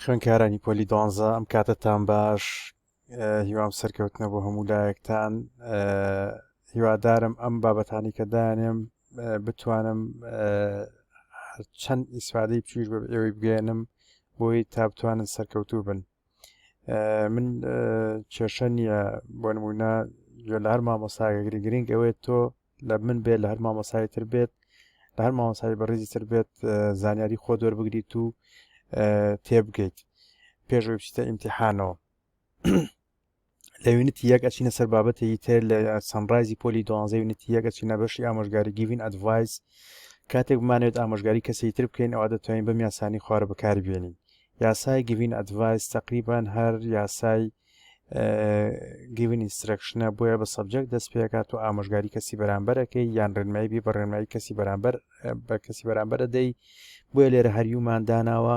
خوێنکارانی پۆلی دوانزە ئەم کاتەتان باش هیوام سەرکەوتنە بۆ هەموو لایەکتان هیوادارم ئەم بابەتانی کە دانێم بتوانم چەند ئیسفادەی بچوش بە ئێوەی بگەێنم بۆی تا بتوانن سەرکەوتوو بن من کێشە نییە بۆ نمونە گوێ لە هەر مامۆساگەگری گرنگ ئەوێت تۆ لە من بێت لە هەر مامۆسایی تر بێت لە هەر مامۆسایی بەڕێزی تر بێت زانیاری خۆ دەربگریت و تێبگەیت پێشوی بچیتە ئیمتحانەوە لە یونیتی یەک ئەچینە سەر بابەتێکی تر لە سەنرایزی پۆلی دوانزە یونیتی یەک ئەچینە بەشی ئامۆژگاری گیڤین ئەدڤایز کاتێک بمانێت ئامۆژگاری کەسی تر بکەین ئەوە دەتوانین بەم یاسانی خوارە بەکار بێنین یاسای گیڤین ئەدڤایز تقریبان هەر یاسای گیڤین ئینسترەکشنە بۆیە بە سەبجەکت دەست پێکات و ئامۆژگاری کەسی بەرامبەرەکەی یان ڕێنمایی بی بە ڕێنمایی کەسی بەرامبەر بە کەسی بەرامبەر دەی بۆیە لێرە هەریومان داناوە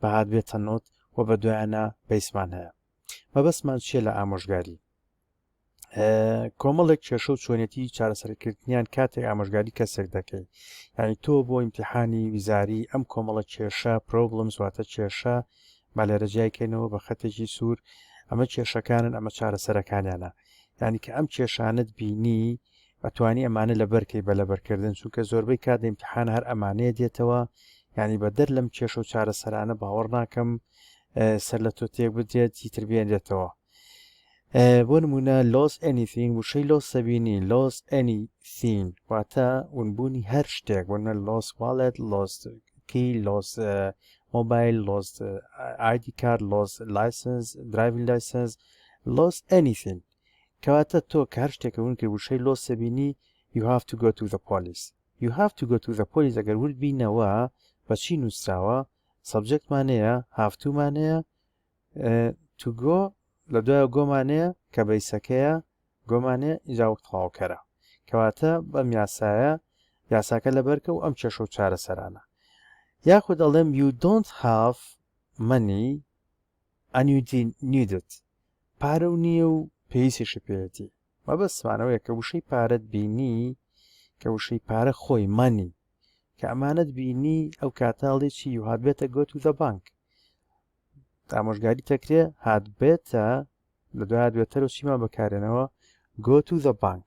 بەهار بێ تەنۆت و بە دوایانە بەیسمان هەیە مەبەستمان چیە لە ئامۆژگاری کۆمەڵێک کێشە و چۆنێتی چارەسەرکردنیان کاتێک ئامۆژگاری کەسێک دەکەی یعنی تۆ بۆ ئیمتحانی ویزاری ئەم کۆمەڵە کێشە پرۆبلم سواتە کێشە با لێرە جیایکەینەوە بە خەتێکی سوور ئەمە کێشەکانن ئەمە چارەسەرەکانیانە یعنی کە ئەم کێشانت بینی ئەتوانی ئەمانە لەبەر کەی بە لەبەر کردن چونکە زۆربەی کات ئیمتیحان هەر ئەمانەیە دێتەوە یانی بە دەر لەم کێشە و چارەسەرانە باوەڕ ناکەم سەر لە تۆ تێک بدرێت هیتر بێنرێتەوە بۆ نمونە لۆس ئەنیثین وشەی لۆس سەبینی لۆس ئەنیثین واتە ونبوونی هەر شتێک بۆنە لۆس واڵێت لۆس کی لۆس مۆبایل لۆس ئایدی کار لۆس لایسنس درایڤین لایسنس لۆس ئەنیثین کەواتە تۆ کە هەر شتێکە ون کرد وشەی لۆس بینی you have to go to the police you have to go to the police ئەگەر ورد بینەوە بە چی نووسراوە سەبجێکت مانەیە هافتو مانەیە تو گۆ لە دوای گۆمانەیە کە بەیسەکەیە گۆمانێ ئیجا وەک تەواوکەرە کەواتە بەم یاسایە یاساکە لەبەرکە و ئەم کێشە و چارەسەرانە یاخود ئەڵێم you don't have money ئەنیوتی نیدت پارە و نییە و پێویستیشە پێەتی مەبەستمانەوەیە کە وشەی پارەت بینی کە وشەی پارە خۆی مانی کە ئەمانەت بینی ئەو کاتاڵێکی یوهات بێتە گۆت و دە بانک ئامۆژگاری تەکرێ هات بێتە لە دوای دوێتەرەوە چیمان بەکارێنەوە گۆت و دە بانک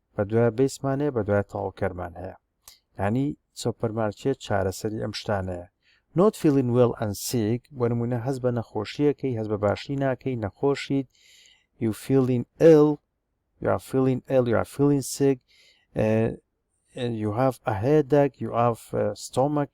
بە دوای بیسمان هەیە بە دوای تەواوکەرمان هەیە یعنی سۆپەرمارکێت چارەسەری ئەم شتانەیە نۆت فیلین وێڵ ئەن سیک بۆ نمونە هەز بە نەخۆشیەکەی هەز بە باشی ناکەی نەخۆشیت یو فیلین ئل یا فیلین ئل یا فیلین سیک you have a headache you have stomach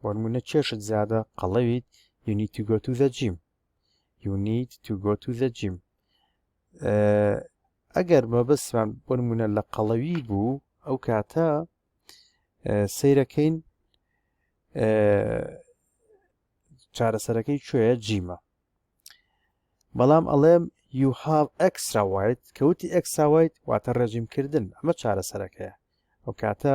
بۆ نموونە چێشت زیادە قەڵەویت you need to go to the gym you need to go to the gym ئەگەر مەبەستمان بۆ نمونە لە قەڵەوی بوو ئەو کاتە سیرەکەین چارەسەرەکەی کوێە جیمە بەڵام ئەڵێم you have extra white کەوتی extra white واتە ڕێژیم کردن ئەمە چارەسەرەکەیە ئەو کاتە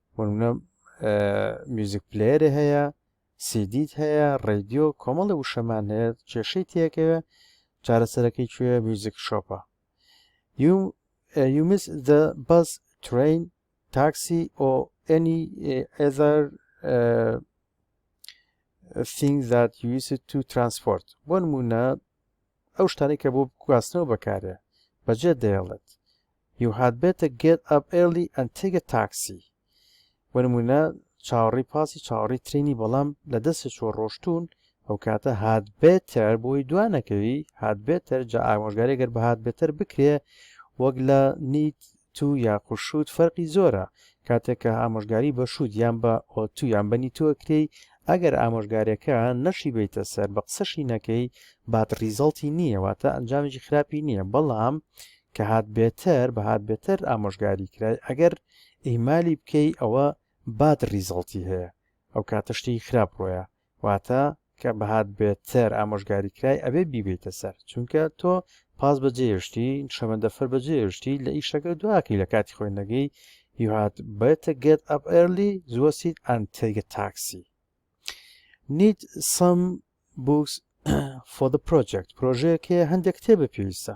بۆ نمونە میوزیک پلەیەرێ هەیە سیدیت هەیە ڕێدیۆ کۆمەڵی وشەمان هەیە کێشەی تێکەوێ چارەسەرەکەی کوێ میوزیک شۆپە یومس دە بەس ترین تاکسی ئۆ ئەنی ئێزار thing that you use to transport بۆ نمونە ئەو شتانی کە بۆ گواستنەوە بەکارێ بەجێ دەیڵێت You had better get up early and take a taxi. بۆ نموونە چاوەڕی پاسی چاوەڕی ترینی بەڵام لە دەستە چۆ ڕۆشتون ئەو کاتە هات بێتەر بۆی دوانەکەوی هات بێتەر جا ئامۆژگاری گەر بە هات بێتەر بکرێ وەک لە نیت تو یاخود شوت فەرقی زۆرە کاتێک کە ئامۆژگاری بە شوت یان بە ئۆتو یان بە نیتۆ کرێی ئەگەر ئامۆژگارەکە نەشی بیتە سەر بە قسەشی نەکەی بات ریزەڵتی نییە واتە ئەنجامێکی خراپی نییە بەڵام کە هات بێتەر بە هات بێتەر ئامۆژگاری کرای ئەگەر ئیهمالی بکەی ئەوە باد ریزەڵتی هەیە ئەو کاتە شتێکی خراپ ڕۆیە واتە کە بەهات بێتەر ئامۆژگاری کرای ئەبێ بیبیتە سەر چونکە تۆ پاس بەجێشتی شەمەندەفەر بەجێشتی لە ئیشەکە دواکەی لە کاتی خۆی نەگەی you had better get up early زووە سیت and take a taxi need some books for the project پرۆژەیەکێ هەندێک کتێبە پێویستە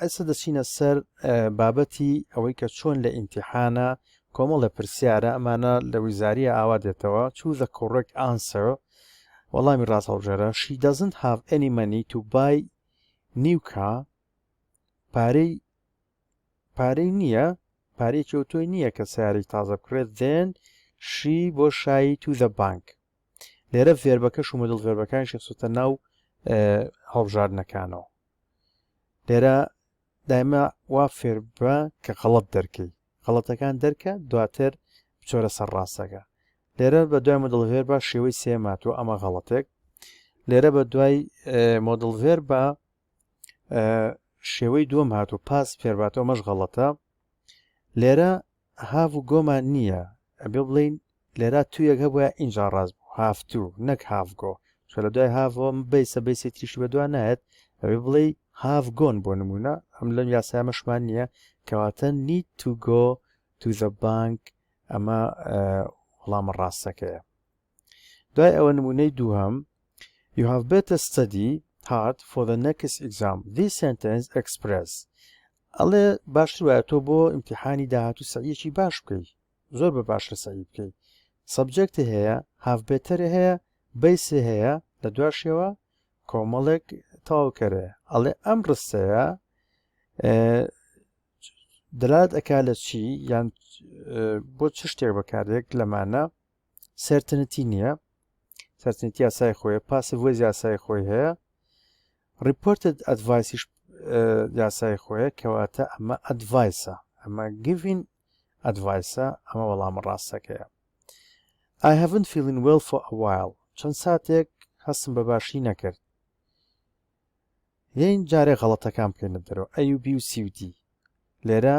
ئێستا دەچینە سەر بابەتی ئەوەی کە چۆن لە ئیمتیحانە کۆمەڵە پرسیارە ئەمانە لە ویزاریە ئاوا دێتەوە چوو زە کۆڕێک ئانسەر وەڵامی ڕاست هەڵبژێرە شی دەزنت هاف ئەنی مەنی تو بای نیوکا پارەی پارەی نییە پارەی چۆتۆی نییە کە سیاری تازە بکرێت دێن شی بۆ شایی تو زە بانک لێرە فێربەکە شومە دڵ فێربەکان شخصتە ناو هەڵبژاردنەکانەوە لێرە دایمە وا فێر بە کە غەڵت دەرکەی غەڵەتەکان دەرکە دواتر بچۆرە سەر ڕاستەکە لێرە بە دوای مدڵڤێر بە شێوەی سێماتوە ئەمە غەڵەتێک لێرە بە دوای مۆدڵڤێر بە شێوەی دووەم هاتو پاس فێرباتەوە مەش غەڵەتە لێرە هاڤ و گۆ مان نییە، ئەبێ بڵێین لێرا توویەک هەبوایە ئینجا ڕاست بوو، هاڤ توو نەک هاڤ گۆ، چونکە لە دوای هاڤەوە م بەیسە، بەیسێ تریشی بە دوا نایەت، ئەبێ بڵێی هاڤ گۆن بۆ نموونە، ئەم لەم یاسایە مەشمان نییە، کەواتە need to go to the bank ئەمە وڵامە ڕاستەکەیە. دوای ئەوە نموونەی دووهەم You have better study hard for the next exam. This sentence express ئەڵێ باشتر وایە تۆ بۆ ئیمتحانی داهاتوو سەعیەکی باش بکەی زۆر بە باشە سەعی بکەی سەبجەکتی هەیە هاف بێتەر هەیە بەیسێ هەیە لە دواشەوە کۆمەڵێک تاوکەرێ ئەڵێ ئەم ڕستەیە دەلات ئەک لە چی یان بۆ چ شتێک بەکارێک لەمانە سەرتنتی نییە سەرتنتی یاسای خۆیە پاسە وەز یاسای خۆی هەیە ڕیپۆرتت ئەدڤایسیش یاسای خۆیە کەواتە ئەمە ئەدڤایسە ئەمە گڤین ئەدڤایسە ئەمە وەڵامە ڕاستەکەیە I haven't feeling well for a while چەند ساتێک هەستم بە باشی نەکرد یین جارێ غەڵەتەکان بکەینە دەرەوە ئەیوبی و سیودی لێرە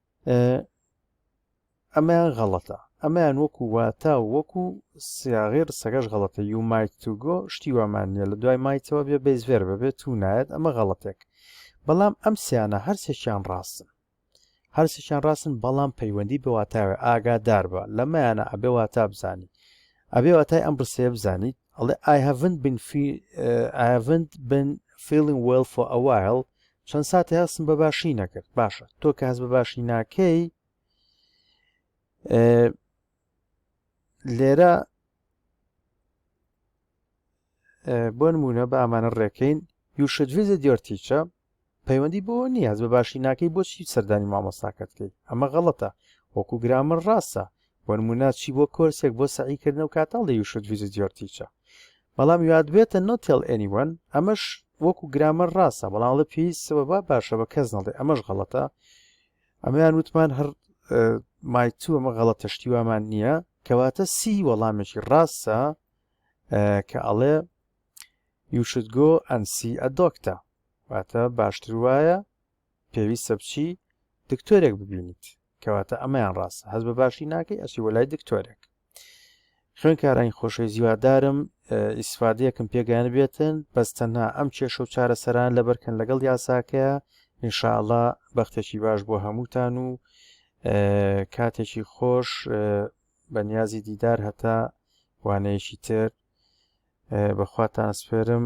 ئەمەیان غەڵەتە ئەمەیان وەکو واتا و وەکو سیاغی ڕسەکەش غەڵەتە یو مایت تو گۆ شتی وامان نیە لە دوای مایتەوە بێ بەیزێر بەبێت تو نایەت ئەمە غەڵەتێک بەڵام ئەم سیانە هەرسێکیان ڕاستن هەرسێکیان ڕاستن بەڵام پەیوەندی بە واتاوێ ئاگادار بە لەمەیانە ئەبێ واتا بزانی ئەبێ واتای ئەم ڕسەیە بزانیت ئەڵێ I haven't been, feel, uh, I haven't been feeling well for a while چەند ساتێ هەستم بە باشی نەکرد باشە تۆ کە هەست بە باشی ناکەی لێرە بۆ نمونە بە ئامانە ڕێکەین یوشت ویزە دیۆرتیچە پەیوەندی بۆ نیاز بە باشی ناکەی بۆچی سەردانی مامۆستاکەتکەی ئەمە غەڵەتە وەکو گرامر ڕاستە وەنمونە چی بۆ کۆرسێک بۆ سەعی کردنە و کاتاڵ دی یو شود ڤیزیت یۆر تیچە بەڵام یو ئادبێتە نۆ تێڵ ئێنی وەن ئەمەش وەکو گرامەر ڕاستە بەڵام ڵە پێی سەبەبا باشە بە کەس نەڵێ ئەمەش غەڵەتە ئەمەیان وتمان هەر مای تو ئەمە غەڵەتە شتی وامان نییە کەواتە سی وەڵامێکی ڕاستە کە ئەڵێ یو شود گۆ ئەن سی ئە دۆکتە واتە باشتر وایە پێویستە بچی دکتۆرێک ببینیت کەواتە ئەمەیان ڕاستە هەز بە باشی ناکەی ئەسی وەلای دکتۆرێک خوێنکارانی خۆشەویست هیوادارم ئیسفادەیەکم پێگەیان بێتن بەس تەنها ئەم کێشە و چارەسەران لەبەرکەن لەگەڵ یاساکەیە انشاءله بەختێکی باش بۆ هەمووتان و کاتێکی خۆش بەنیازی دیدار هەتا وانەیەکی تر بەخواتان سپێرم